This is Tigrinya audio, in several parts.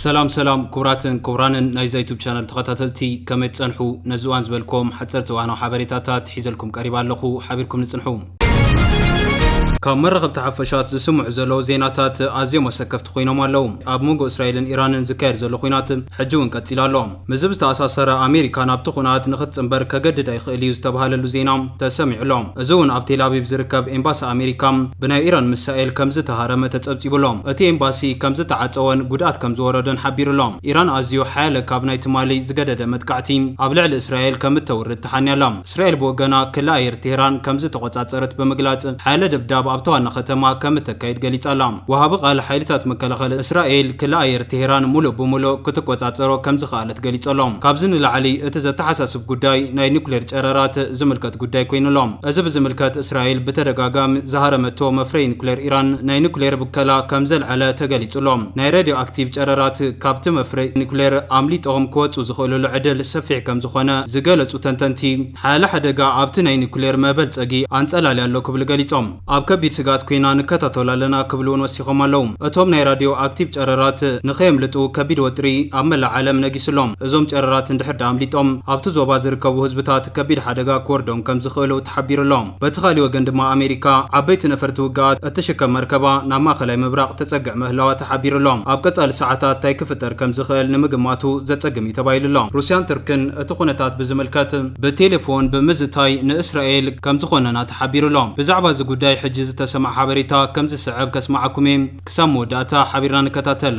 ሰላም ሰላም ክቡራትን ክቡራንን ናይዛ ዩቱብ ቻነል ተኸታተልቲ ከመይ ትፀንሑ ነዚ እዋን ዝበልኩም ሓፀርቲ እዋናዊ ሓበሬታታት ሒዘልኩም ቀሪባ ኣለኹ ሓቢርኩም ንፅንሑ ካብ መራኸብቲ ሓፈሻት ዝስምዑ ዘለዉ ዜናታት ኣዝዮም ኣሰከፍቲ ኮይኖም ኣለዉ ኣብ መንጎ እስራኤልን ኢራንን ዝካየድ ዘሎ ኩናት ሕጂ እውን ቀፂሉ ኣሎ ምስዚ ብዝተኣሳሰረ ኣሜሪካ ናብቲ ኹናት ንኽትጽንበር ከገድዳ ይኽእል እዩ ዝተብሃለሉ ዜና ተሰሚዑ ኣሎ። እዚ እውን ኣብ ቴልኣቪቭ ዝርከብ ኤምባሲ ኣሜሪካ ብናይ ኢራን ምሳኤል ከምዝተሃረመ ተጸብጺቡ ኣሎ። እቲ ኤምባሲ ከምዝተዓጸወን ጉድኣት ከምዝወረደን ሓቢሩ ኣሎ። ኢራን ኣዝዩ ሓያለ ካብ ናይ ትማሊ ዝገደደ መጥቃዕቲ ኣብ ልዕሊ እስራኤል ከምእተውርድ ተሓንያ ኣላ። እስራኤል ብወገና ክሊ ኣየር ቴህራን ከምዝተቖጻጸረት ብምግላጽ ሓያለ ደብዳብ ኣብታ ዋና ከተማ ከምእተካይድ ገሊጻ ኣላ። ወሃቢ ቃል ሓይልታት መከላኸሊ እስራኤል፣ ክሊ ኣየር ቴህራን ሙሉእ ብሙሉእ ክትቆፃፀሮ ከምዝኸኣለት ገሊፁ ኣሎ። ካብዚ ንላዕሊ እቲ ዘተሓሳስብ ጉዳይ ናይ ኒኩሌር ጨረራት ዝምልከት ጉዳይ ኮይኑ ኣሎ። እዚ ብዝምልከት እስራኤል ብተደጋጋሚ ዝሃረመቶ መፍረዪ ኒኩሌር ኢራን ናይ ኒኩሌር ብከላ ከምዘልዐለ ተገሊፁ ኣሎ። ናይ ሬድዮ ኣክቲቭ ጨረራት ካብቲ መፍረዪ ኒኩሌር ኣምሊጦም ክወፁ ዝኽእሉሉ ዕድል ሰፊሕ ከምዝኾነ ዝገለፁ ተንተንቲ፣ ሓያለ ሓደጋ ኣብቲ ናይ ኒኩሌር መበልፀጊ ኣንፀላልያ ኣሎ ክብሉ ገሊፆም። ኣብ ከቢድ ስግኣት ኰይና ንከታተሎ ኣለና ክብሉ'ውን ወሲኾም ኣለዉ። እቶም ናይ ራድዮ ኣክቲቭ ጨረራት ንከየምልጡ ከቢድ ወጥሪ ኣብ መላእ ዓለም ነጊሱ ኣሎ። እዞም ጨረራት እንድሕር ደኣ ኣምሊጦም ኣብቲ ዞባ ዝርከቡ ህዝብታት ከቢድ ሓደጋ ክወርዶም ከም ዝኽእሉ ተሓቢሩ ኣሎ። በቲ ካልእ ወገን ድማ ኣሜሪካ ዓበይቲ ነፈርቲ ውግኣት እትሽከም መርከባ ናብ ማእከላይ ምብራቕ ተጸግዕ ምህላዋ ተሓቢሩ ኣሎ። ኣብ ቀጻሊ ሰዓታት ታይ ክፍጠር ከም ዝኽእል ንምግማቱ ዘጸግም እዩ ተባሂሉ ኣሎ። ሩስያን ቱርክን እቲ ኵነታት ብዝምልከት፣ ብቴሌፎን ብምዝታይ ንእስራኤል ከምዝኾነና ተሓቢሩ'ሎ። ብዛዕባ እዚ ጉዳይ ሕጂ ዝተሰምዐ ሓበሬታ ከምዝስዕብ ከስምዓኩም'የ። ክሳብ መወዳእታ ሓቢርና ንከታተል።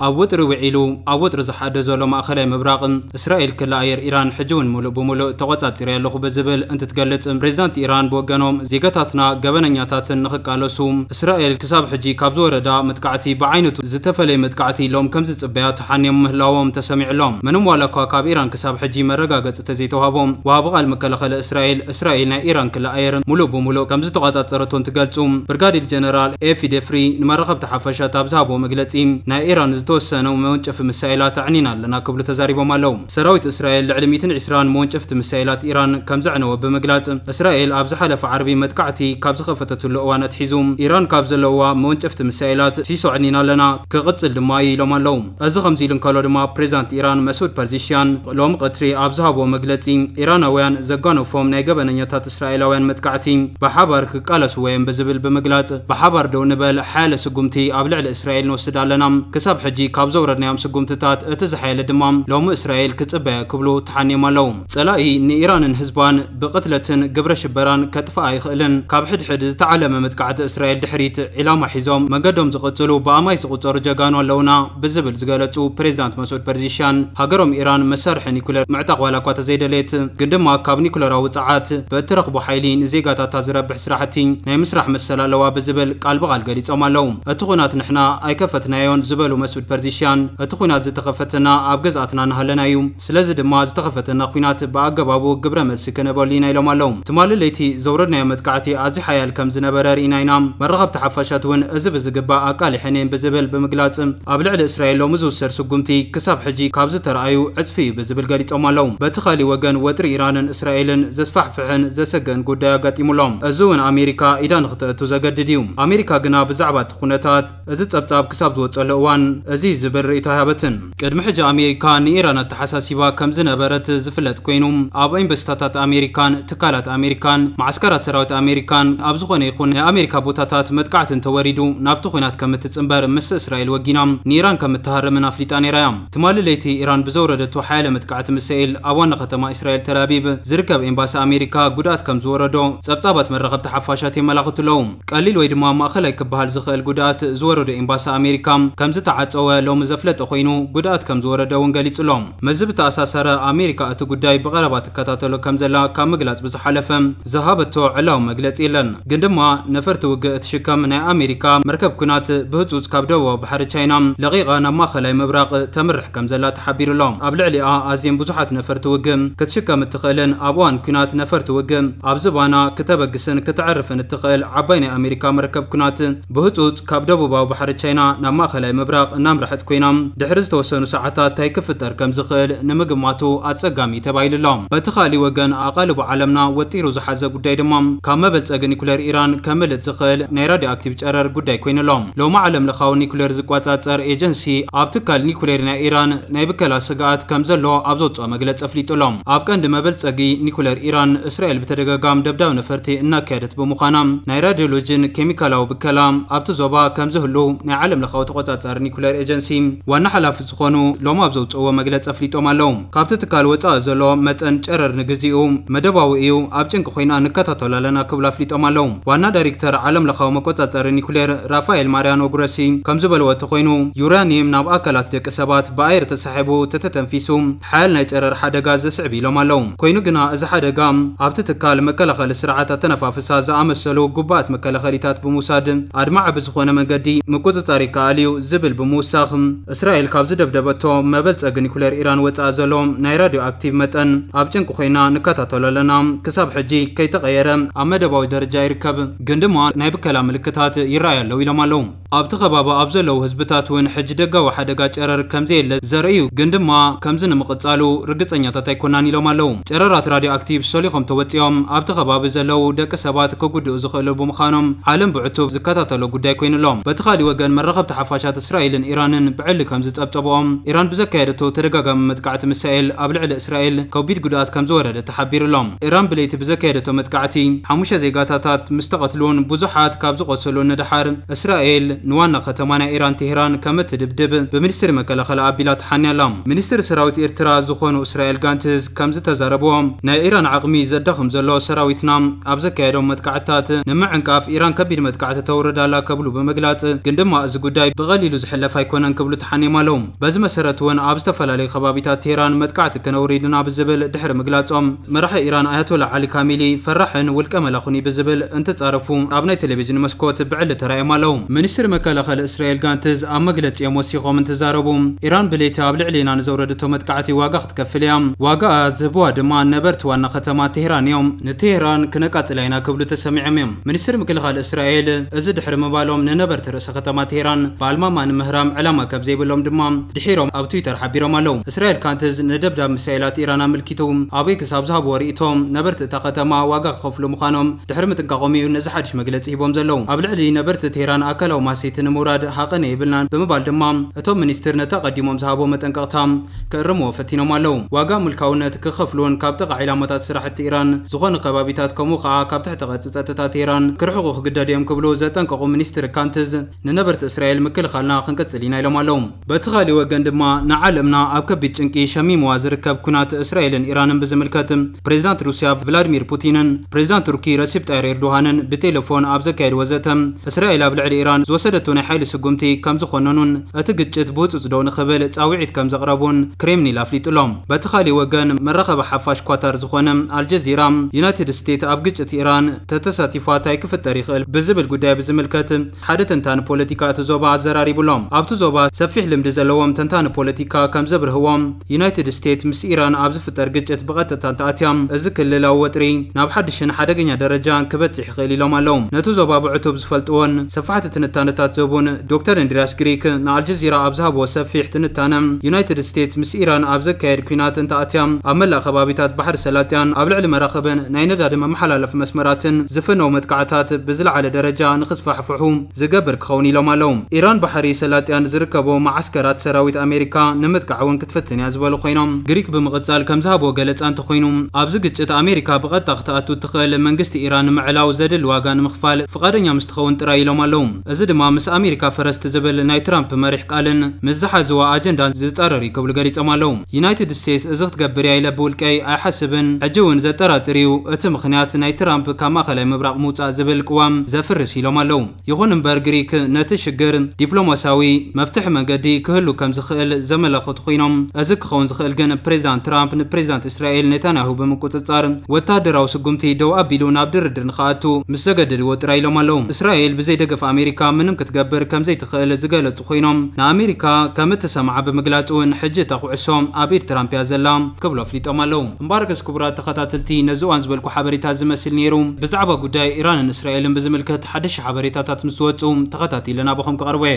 ኣብ ወጥሪ ውዒሉ ኣብ ወጥሪ ዝሓድር ዘሎ ማእኸላይ ምብራቕ፣ እስራኤል ክሊ ኣየር ኢራን ሕጂ'ውን ሙሉእ ብሙሉእ ተቖፃፂረዮ ኣለኹ ብዝብል እንትትገልፅ፣ ፕሬዚዳንት ኢራን ብወገኖም ዜጋታትና ገበነኛታትን ንኽቃለሱ እስራኤል ክሳብ ሕጂ ካብ ዝወረዳ መጥቃዕቲ ብዓይነቱ ዝተፈለየ መጥቃዕቲ ኢሎም ከምዝፅበያ ተሓንዮም ምህላዎም ተሰሚዑ ኣሎ። ምንም ዋላኳ ካብ ኢራን ክሳብ ሕጂ መረጋገጺ ተዘይተዋህቦ፣ ወሃቢ ቃል መከላኸሊ እስራኤል፣ እስራኤል ናይ ኢራን ክሊ ኣየር ሙሉእ ብሙሉእ ከምዝተቆጻጸረቶ እንትገልጹ፣ ብርጋዴር ጀነራል ኤፊ ዴፍሪ ንመራኸብቲ ሓፋሽ ኣብ ዝሃብዎ መግለጺ፣ ናይ ኢራን ዝተወሰኑ መወንጨፊ ምሳኤላት ኣዕኒና ኣለና ክብሉ ተዛሪቦም ኣለው። ሰራዊት እስራኤል ልዕሊ ሚእትን ዒስራን መወንጨፍቲ ምሳኤላት ኢራን ከምዘዕነወ ብምግላጽ፣ እስራኤል ኣብ ዝሓለፈ ዓርቢ መጥቃዕቲ ካብ ዝኸፈተትሉ እዋን ኣትሒዙ፣ ኢራን ካብ ዘለውዋ መወንጨፍቲ ምሳኤላት ሲሶ ኣዕኒና ኣለና፣ ክቕጽል ድማ እዩ ኢሎም ኣለው። እዚ ከምዚ ኢሉ እንከሎ ድማ ፕሬዝዳንት ኢራን መስዑድ ፐርዚሽያን ሎሚ ቐትሪ ኣብ ዝሃብዎ መግለጺ ኢራናውያን ዘጓነፎም ናይ ገበነኛታት እስራኤላውያን መጥቃዕቲ ብሓባር ክቃለስዎ እዮም ብዝብል ብምግላጽ ብሓባር ደው ንበል ሓያለ ስጉምቲ ኣብ ልዕሊ እስራኤል ንወስድ ኣለና ክሳብ ሕጂ ካብ ዘውረድናዮም ስጉምትታት እቲ ዝሓየለ ድማ ሎሚ እስራኤል ክጽበያ ክብሉ ተሓንዮም ኣለው። ጸላኢ ንኢራንን ህዝባን ብቕትለትን ግብረ ሽበራን ከጥፍኣ ኣይኽእልን። ካብ ሕድሕድ ዝተዓለመ መጥቃዕቲ እስራኤል ድሕሪት ዒላማ ሒዞም መገዶም ዝቕጽሉ ብኣማኢት ዝቑጸሩ ጀጋኑ ኣለዉና ብዝብል ዝገለጹ ፕሬዚዳንት መሱድ ፐርዚሽያን፣ ሃገሮም ኢራን መሳርሒ ኒኩለር ምዕጣቕ ዋላ'ኳ ተዘይደለየት ግን ድማ ካብ ኒኩለራዊ ጸዓት ብእትረኽቦ ሓይሊ ንዜጋታታ ዝረብሕ ስራሕቲ ናይ ምስራሕ መሰል ኣለዋ ብዝብል ቃል ብቓል ገሊጾም ኣለዉ። እቲ ኹናት ንሕና ኣይከፈትናዮን ዝበሉ መሱድ ፐርዚሽያን፣ እቲ ኹናት ዝተኸፈተና ኣብ ግዝኣትና እናሃለና'ዩ። ስለዚ ድማ ዝተኸፈተና ኲናት ብኣገባቡ ግብረ መልሲ ክንህበሉ ኢና ኢሎም ኣለው። ትማሊ ለይቲ ዘውረድናዮ መጥቃዕቲ ኣዝዩ ሓያል ከም ዝነበረ ርኢና ኢና። መራኸብቲ ሓፋሻት እውን እዚ ብዝግባእ ኣቃሊሐን እየን ብዝብል ብምግላፅ ኣብ ልዕሊ እስራኤል ሎሚ ዝውሰድ ስጉምቲ ክሳብ ሕጂ ካብ ዝተርኣዩ ዕፅፊ እዩ ብዝብል ገሊፆም ኣለው። በቲ ካሊእ ወገን ወጥሪ ኢራንን እስራኤልን ዘስፋሕፍሕን ዘሰግእን ጉዳይ ኣጋጢሙ ኣሎ። እዚ እውን ኣሜሪካ ኢዳ ንክተእቱ ዘገድድ እዩ። ኣሜሪካ ግና ብዛዕባ እቲ ኩነታት። እዚ ጸብጻብ ክሳብ ዝወጸሉ እዋን እዚ ዝብል ርእይቶ ኣይሃበትን። ቅድሚ ሕጂ ኣሜሪካ ንኢራን ኣተሓሳሲባ ከም ዝነበረት ዝፍለጥ ኮይኑ፣ ኣብ ኤምበሲታታት ኣሜሪካን ትካላት ኣሜሪካን መዓስከራት ሰራዊት ኣሜሪካን ኣብ ዝኾነ ይኹን ናይ ኣሜሪካ ቦታታት መጥቃዕቲ እንተወሪዱ ናብቲ ኲናት ከም እትጽንበር ምስ እስራኤል ወጊና ንኢራን ከም እትሃርምን ኣፍሊጣ ነይራ እያ። ትማሊ ለይቲ ኢራን ብዘውረደቶ ሓያለ መጥቃዕቲ ሚሳኤል ኣብ ዋና ከተማ እስራኤል ተልኣቪቭ ዝርከብ ኤምባሲ ኣሜሪካ ጉድኣት ከም ዝወረዶ ጸብጻባት መራኸብቲ ሓፋሻት የመላኽቱ ኣለዉ። ቀሊል ወይ ድማ ማእኸላይ ክበሃል ዝኽእል ጉድኣት ዝወረዶ ኤምባሲ ኣሜሪካ ከምዝተዓፀወ ሎሚ ዘፍለጠ ኮይኑ ጉድኣት ከምዝወረደ እውን ገሊፁ'ሎ። ምስዚ ብተኣሳሰረ ኣሜሪካ እቲ ጉዳይ ብቐረባ ትከታተሎ ከምዘላ ካብ ምግላፅ ብዝሓለፈ ዝሃበቶ ዕላዊ መግለፂ የለን። ግን ድማ ነፈርቲ ውግእ እትሽከም ናይ ኣሜሪካ መርከብ ኲናት ብህፁፅ ካብ ደቡባዊ ባሕሪ ቻይና ለቒቓ ናብ ማእኸላይ ምብራቕ ተምርሕ ከምዘላ ተሓቢሩ'ሎ። ኣብ ልዕሊኣ ኣዝየን ብዙሓት ነፈርቲ ውግእ ክትሽከም እትኽእልን ኣብ እዋን ኲናት ነፈርቲ ውግእ ኣብ ዝባና ክተበግስን ክተዕርፍን እትኽእል ዓባይ ናይ ኣሜሪካ መርከብ ኵናት፣ ብህጹጽ ካብ ደቡባዊ ባሕሪ ቻይና ናብ ማእከላይ ምብራቕ እናምርሐት ኰይና፣ ድሕሪ ዝተወሰኑ ሰዓታት ታይ ክፍጠር ከም ዝኽእል ንምግማቱ ኣጸጋሚ እዩ ተባሂሉ ኣሎ። በቲ ኻልእ ወገን፣ ኣቓልቦ ዓለምና ወጢሩ ዝሓዘ ጕዳይ ድማ፣ ካብ መበልጸጊ ኒኵሌር ኢራን ከምልጥ ዝኽእል ናይ ራድዮኣክቲቭ ጨረር ጕዳይ ኰይኑ ኣሎ። ሎሚ ዓለምለኻዊ ኒኵሌር ዝቈጻጸር ኤጀንሲ፣ ኣብ ትካል ኒኵሌር ናይ ኢራን ናይ ብከላ ስግኣት ከም ዘሎ ኣብ ዘውጽኦ መግለጺ ኣፍሊጡ ኣሎ። ኣብ ቀንዲ መበልጸጊ ኒኩለር ኢራን፣ እስራኤል ብተደጋጋሚ ደብዳብ ነፈርቲ እናካየደት ብምዃና፣ ናይ ራድዮሎጂን ኬሚካላዊ ብከላ ኣብቲ ዞባ ከምዝህሉ ናይ ዓለምለኻዊ ተቖጻጻሪ ኒኩለር ኤጀንሲ ዋና ሓላፊ ዝኾኑ ሎሚ ኣብ ዘውጽእዎ መግለጺ ኣፍሊጦም ኣለው። ካብቲ ትካል ወጻኢ ዘሎ መጠን ጨረር ንግዚኡ መደባዊ እዩ፣ ኣብ ጭንቂ ኮይና ንከታተሎ ኣለና ክብሉ ኣፍሊጦም ኣለው። ዋና ዳይሪክተር ዓለምለኻዊ መቆጻጸሪ ኒኩሌር ራፋኤል ማርያኖ ግሮሲ ከምዝበልዎ እተኾይኑ፣ ዩራኒየም ናብ ኣካላት ደቂ ሰባት ብኣየር ስሒቡ ተተተንፊሱ ሓያል ናይ ጨረር ሓደጋ ዘስዕብ ኢሎም ኣለው። ኮይኑ ግና እዚ ሓደጋ ኣብቲ ትካል መከላኸሊ ስርዓት ኣተነፋፍሳ ዝኣመሰሉ ግቡኣት መከላኸሊታት ብምውሳድ ኣድማዒ ብዝኾነ መንገዲ ምቁፅፃር ይከኣል እዩ ዝብል ብምውሳኽ እስራኤል ካብ ዝደብደበቶ መበልፀጊ ኒኩሌር ኢራን ወፃኢ ዘሎ ናይ ራዲዮ ኣክቲቭ መጠን ኣብ ጭንቂ ኮይና ንከታተሎ ኣለና ክሳብ ሕጂ ከይተቐየረ ኣብ መደባዊ ደረጃ ይርከብ ግን ድማ ናይ ብከላ ምልክታት ይረኣዩ ኣለው ኢሎም ኣለው። ኣብቲ ከባቢ ኣብ ዘለዉ ህዝብታት እውን ሕጂ ደጋዊ ሓደጋ ጨረር ከምዘየለ ዘርኢ እዩ፣ ግን ድማ ከምዚ ንምቕጻሉ ርግጸኛታት ኣይኮናን ኢሎም ኣለዉ። ጨረራት ራድዮኣክቲቭ ሾሊኾም ተወጺኦም ኣብቲ ከባቢ ዘለዉ ደቂ ሰባት ክጉድኡ ዝኽእሉ ብምዃኖም ዓለም ብዕቱብ ዝከታተሎ ጉዳይ ኮይኑ ኣሎ። በቲ ካልእ ወገን መራኸብቲ ሓፋሻት እስራኤልን ኢራንን ብዕሊ ከምዝጸብጸብኦ፣ ኢራን ብዘካየደቶ ተደጋጋሚ መጥቃዕቲ ምሳኤል ኣብ ልዕሊ እስራኤል ከቢድ ጉድኣት ከምዝወረደ ተሓቢሩ'ሎ። ኢራን ብለይቲ ብዘካየደቶ መጥቃዕቲ ሓሙሽተ ዜጋታታት ምስ ተቐትሉን ብዙሓት ካብ ዝቖሰሉን ንደሓር፣ እስራኤል ንዋና ከተማ ናይ ኢራን ቴህራን ከም እትድብድብ ብሚኒስትሪ መከላኸሊ ኣቢላ ተሓንያ ኣላ። ሚኒስትሪ ሰራዊት ኤርትራ ዝኾኑ እስራኤል ጋንትዝ ከም ዝተዛረብዎ፣ ናይ ኢራን ዓቕሚ ዘዳኽም ዘሎ ሰራዊትና ኣብ ዘካየዶም መጥቃዕትታት ንምዕንቃፍ ኢራን ከቢድ መጥቃዕቲ ተውርድ ኣላ ከብሉ ብምግላጽ ግን ድማ እዚ ጉዳይ ብቐሊሉ ዝሕለፍ ኣይኮነን ክብሉ ተሓንዮም ኣለው። በዚ መሰረት እውን ኣብ ዝተፈላለዩ ከባቢታት ቴህራን መጥቃዕቲ ከነውሪድ ኢና ብዝብል ድሕሪ ምግላፆም፣ መራሒ ኢራን ኣያቶላ ዓሊ ካሚሊ ፈራሕን ውልቀ መላኹን እዩ ብዝብል እንትፃረፉ ኣብ ናይ ቴሌቪዥን መስኮት ብዕሊ ተራእዮም ኣለው። ሚኒስትሪ መከላኸሊ እስራኤል ጋንትዝ ኣብ መግለፂኦም ወሲኾም እንትዛረቡ፣ ኢራን ብለይቲ ኣብ ልዕሊና ንዘውረደቶ መጥቃዕቲ ዋጋ ክትከፍል እያ፣ ዋጋኣ ዝህብዋ ድማ ነበርቲ ዋና ከተማ ቴህራን እዮም። ንቴህራን ክነቃፅላ ኢና ክብሉ ተሰሚዖም እዮም። ሚኒስትሪ ምክልኻል እስራኤል እዚ ድሕሪ ምባሎም ንነበርቲ እቲ ከተማ ቴህራን ብኣልማማ ንምህራም ዕላማ ከም ዘይብሎም ድማ ድሒሮም ኣብ ትዊተር ሓቢሮም ኣለዉ። እስራኤል ካንትዝ ንደብዳብ ሚሳይላት ኢራን ኣመልኪቱ ኣበይ ክሳብ ዝሃብዎ ርእይቶ፣ ነበርቲ እታ ከተማ ዋጋ ክኸፍሉ ምዃኖም ድሕሪ ምጥንቃቖም እዩ ነዚ ሓድሽ መግለጺ ሂቦም ዘለዉ። ኣብ ልዕሊ ነበርቲ ቴህራን ኣካላዊ ማህሰይቲ ንምውራድ ሃቐነ የብልናን ብምባል ድማ እቶም ሚኒስትር ነቲ ኣቐዲሞም ዝሃብዎ መጠንቀቕታ ክእርምዎ ፈቲኖም ኣለዉ። ዋጋ ምልካውነት ክኸፍሉዎን ካብ ጥቓ ዒላማታት ስራሕቲ ኢራን ዝኾኑ ከባቢታት ከምኡ ከኣ ካብ ትሕተ ቅርጺ ጸጥታ ቴህራን ክርሕቑ ክግደዱ እዮም ክብሉ ዘጠንቀቑ ሚኒስትር ካንትዝ ንነበርቲ እስራኤል ምክልኻልና ክንቅጽል ኢና ኢሎም ኣለዉ። በቲ ካሊእ ወገን ድማ ንዓለምና ኣብ ከቢድ ጭንቂ ሸሚምዋ ዝርከብ ኲናት እስራኤልን ኢራንን ብዝምልከት ፕሬዚዳንት ሩሲያ ቭላድሚር ፑቲንን ፕሬዚዳንት ቱርኪ ረሲፕ ጣይር ኤርዶሃንን ብቴለፎን ኣብ ዘካየድዎ ዘተ እስራኤል ኣብ ልዕሊ ኢራን ዝወሰደቶ ናይ ሓይሊ ስጉምቲ ከምዝኾነኑን እቲ ግጭት ብህጹጽ ደው ንኽብል ጻውዒት ከም ዘቕረቡን ክሬምኒል ኣፍሊጡ'ሎ። በቲ ካልእ ወገን፣ መራኸቢ ሓፋሽ ኳታር ዝኾነ ኣልጀዚራ፣ ዩናይትድ ስቴት ኣብ ግጭት ኢራን ተተሳቲፋ ታይ ክፍጠር ይኽእል ብዝብል ጉዳይ ብዝምልከት ሓደ ተንታኒ ፖለቲካ እቲ ዞባ ኣዘራሪቡ'ሎ። ኣብቲ ዞባ ሰፊሕ ልምዲ ዘለዎም ተንታኒ ፖለቲካ ከም ዘብርህዎ፣ ዩናይትድ ስቴት ምስ ኢራን ኣብ ዝፍጠር ግጭት ብቐጥታ እንተኣትያ እዚ ክልላዊ ወጥሪ ናብ ሓድሽን ሓደገኛ ደረጃ ክበጽሕ ይኽእል ኢሎም ኣለው። ነቲ ዞባ ብዕቱብ ዝፈልጥዎን ሰፋሕቲ ትንታነታት ዝህቡን ዶክተር እንድርያስ ግሪክ ንኣልጀዚራ ኣብ ዝሃብዎ ሰፊሕ ትንታነ፣ ዩናይትድ ስቴትስ ምስ ኢራን ኣብ ዘካየድ ኲናት እንተኣትያ፣ ኣብ መላእ ከባቢታት ባሕሪ ሰላጢያን ኣብ ልዕሊ መራኽብን ናይ ነዳዲ መመሓላለፊ መስመራትን ዝፍነዉ መጥቃዕታት ብዝለዓለ ደረጃ ንኽስፋሕፍሑ ዝገብር ክኸውን ኢሎም ኣለዉ። ኢራን ባሕሪ ሰላጢያን ዝርከቡ መዓስከራት ሰራዊት ኣሜሪካ ንምጥቃዕ እውን ክትፍትን እያ ዝበሉ ኮይኖም፣ ግሪክ ብምቕፃል ከምዝሃብዎ ገለፃ እንተኾይኑ ኣብዚ ግጭት ኣሜሪካ ብቐጥታ ክትኣቱ ዝኽእል መንግስቲ ኢራን ምዕላው ዘድል ዋጋ ንምኽፋል ፍቓደኛ ምስ ትኸውን ጥራይ ኢሎም ኣለው። እዚ ድማ ምስ ኣሜሪካ ፈረስት ዝብል ናይ ትራምፕ መሪሕ ቃልን ምስ ዝሓዙዎ ኣጀንዳን ዝፃረር እዩ ክብሉ ገሊፆም ኣለው። ዩናይትድ ስቴትስ እዚ ክትገብር እያ ኢለ ብውልቀይ ኣይሓስብን፣ ሕጂ እውን ዘጠራጥር እዩ፣ እቲ ምኽንያት ናይ ትራምፕ ካብ ማእኸላይ ምብራቕ ምውፃእ ዝብል ቅዋም ዘፍርስ ኢሎም ኣለው። ይኹን እምበር ግሪክ ነቲ ሽግር ዲፕሎማሲያዊ መፍትሒ መንገዲ ክህሉ ከም ዝኽእል ዘመላኸቱ ኮይኖም፣ እዚ ክኸውን ዝኽእል ግን ፕሬዚዳንት ትራምፕ ንፕሬዚዳንት እስራኤል ኔታንያሁ ብምቁፅፃር ወታደራዊ ስጉምቲ ደው ኣቢሉ ናብ ድርድር ንክኣቱ ምስ ዘገደድዎ ጥራይ ኢሎም ኣለው። እስራኤል ብዘይ ደገፍ ኣሜሪካ ምንም ክትገብር ከም ዘይትኽእል ዝገለፁ ኮይኖም፣ ንኣሜሪካ ከም እትሰምዓ ብምግላፅ እውን ሕጂ እታ ኩዕሶ ኣብ ኢድ ትራምፕ እያ ዘላ ክብሉ ኣፍሊጦም ኣለው። እምባርገስ ክቡራት ተኸታተልቲ ነዚ እዋን ዝበልኩ ሓበሬታ እዚ መስል ነይሩ። ብዛዕባ ጉዳይ ኢራንን እስራኤልን ብዝምልከት ሓደሽቲ ሓበሬታታት ምስ ዝወጽኡ ተኸታቲለ ናባኹም ክቐርቦ እየ።